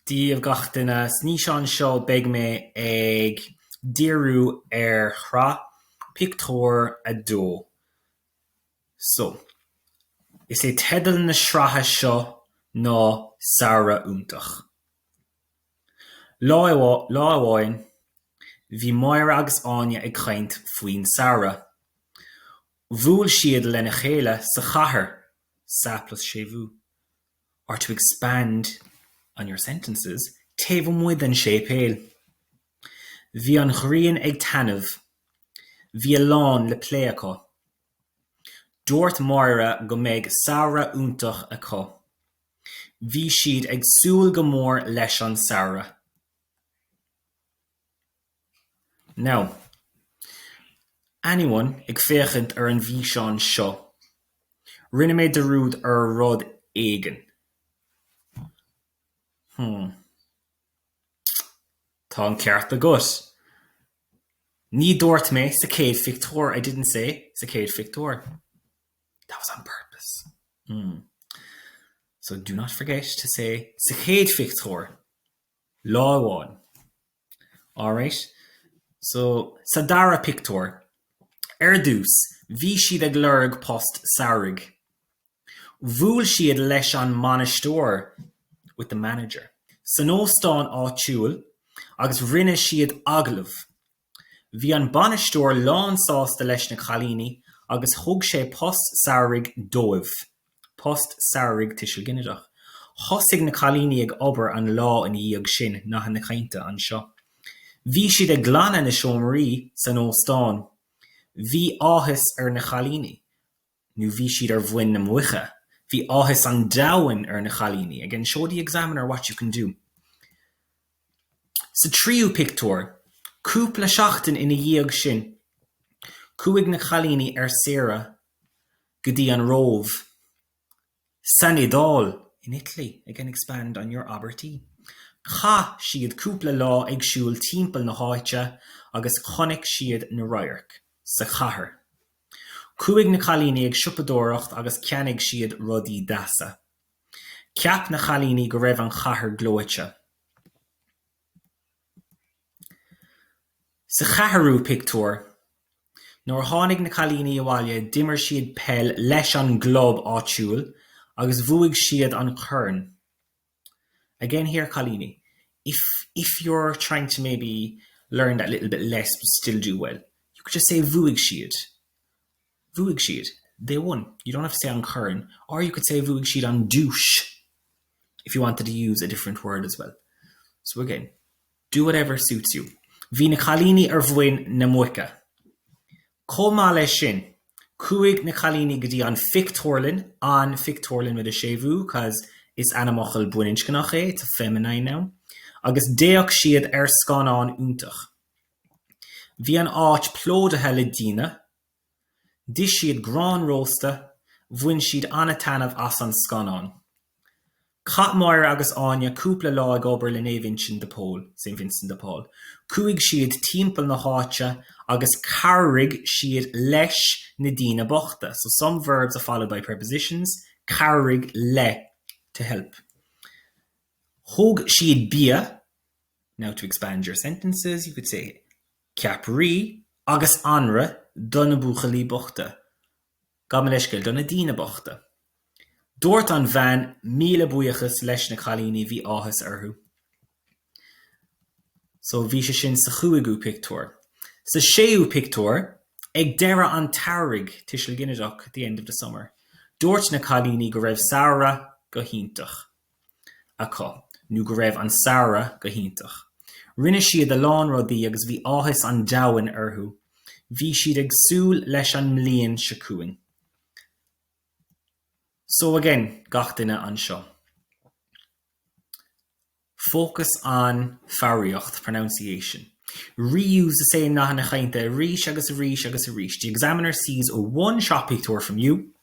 Daoibh gach duine. San fhíseán seo beidh mé ag díriú ar shraith pictiúr a dó. So, is é teideal na sraithe seo ná Samhradh Iontach. Lá amháin, bhí Máire agus Áine ag caint faoin samhradh. Bhuail siad lena chéile sa chathair sa phlás siúil or to expand on your sentences taobh amuigh den séipéal. Bhí an ghrian ag taitneamh. Bhí a lán le plé acu. Dúirt Máire go mbeidh samhradh iontach acu. Bhí siad ag súil go mór leis an samhradh. Now, anyone ag féachaint ar an bhfíseán seo, rinne mé dearúd ar rud éigin. Hmm. Tá an ceart agat. Ní dúirt mé sa chéad phictiúr, I didn't say sa chéad phictiúr. That was on purpose. Hmm. So do not forget to say sa chéad phictiúr lá amháin. Alright so sa dara pictiúr, ar dtús bhí siad ag lorg post samhraidh. Bhuail siad leis an mbainisteoir, with the manager, san óstán áitiúil agus rinne siad agallamh. Bhí an bainisteoir lánsásta leis na cailíní agus thug sé post samhraidh dóibh. Post samhraidh tuiseal ginideach. Thosaigh na cailíní ag obair an lá ina dhiaidh sin, nathanna cainte anseo. Bhí siad ag glanadh na seomraí san óstán. Bhí áthas ar na cailíní nó bhí siad ar mhuin na muice. Bhí áthas an domhain ar na cailíní. Again show the examiner what you can do. Sa tríú pictiúr, cúpla seachtain ina dhiaidh sin, chuaigh na cailíní ar saoire go dtí an Róimh, san Iodáil, in Italy, again expand on your abairtí, Chaith siad cúpla lá ag siúl timpeall na háite agus chonaic siad na radhairc. sa chathair. Chuaigh na cailíní ag siopadóireacht agus cheannaigh siad rudaí deasa. Cheap na cailíní go raibh an chathair gleoite. Sa cheathrú pictiúr, nuair a tháinig na cailíní abhaile d'imir siad peil leis an gclub áitiúil agus bhuaigh siad an corn. Again here, cailíní, if if you're trying to maybe learn that little bit less still do well, you could just say bhuaigh siad. Bhuaigh siad, they won. You don't have to say an corn or you could say bhuaigh siad an duais if you wanted to use a different word as well. So again, do whatever suits you. Bhí na cailíní ar mhuin na muice. Chomh maith leis sin, chuaigh na cailíní go dtí an phictiúrlann, an phictiúrlann with a séimhiú cause is ainmfhocal baininscneach é, it's a feminine noun, agus d'fhéach siad ar scannán iontach. Bhí an áit plódaithe le daoine. D'ith siad grán rósta, bhain siad an-taitneamh as an scannán. Chaith Máire agus Áine cúpla lá ag obair le Naomh Uinseann de Pól, Saint Vincent de Paul. Chuaigh siad timpeall na háite agus chabhraigh siad leis na daoine bochta. So some verbs are followed by prepositions, chabhraigh le, to help. Thug siad bia Now to expand your sentences you could say, Ceapairí agus anraith do na buachaillí bochta. Gabh mo leithscéal, do na daoine bochta. Dúirt an bhean míle buíochas leis na cailíní, bhí áthas orthu. So bhí sé sin sa chúigiú pictiúr. Sa séú pictiúr, ag deireadh an tsamhraidh, Tuiseal Ginideach, the end of the summer. Dúirt na cailíní go raibh samhradh go hiontach. acu nó go raibh an samhradh go hiontach. Rinne siad a lán rudaí agus bhí áthas an domhain orthu. Bhí siad ag súil leis an mbliain seo chugainn. So again, gach duine anseo. Focus on foghraíocht, pronunciation. Reuse the same nathanna cainte arís agus arís agus arís. The examiner sees one sraith pictiúr from you.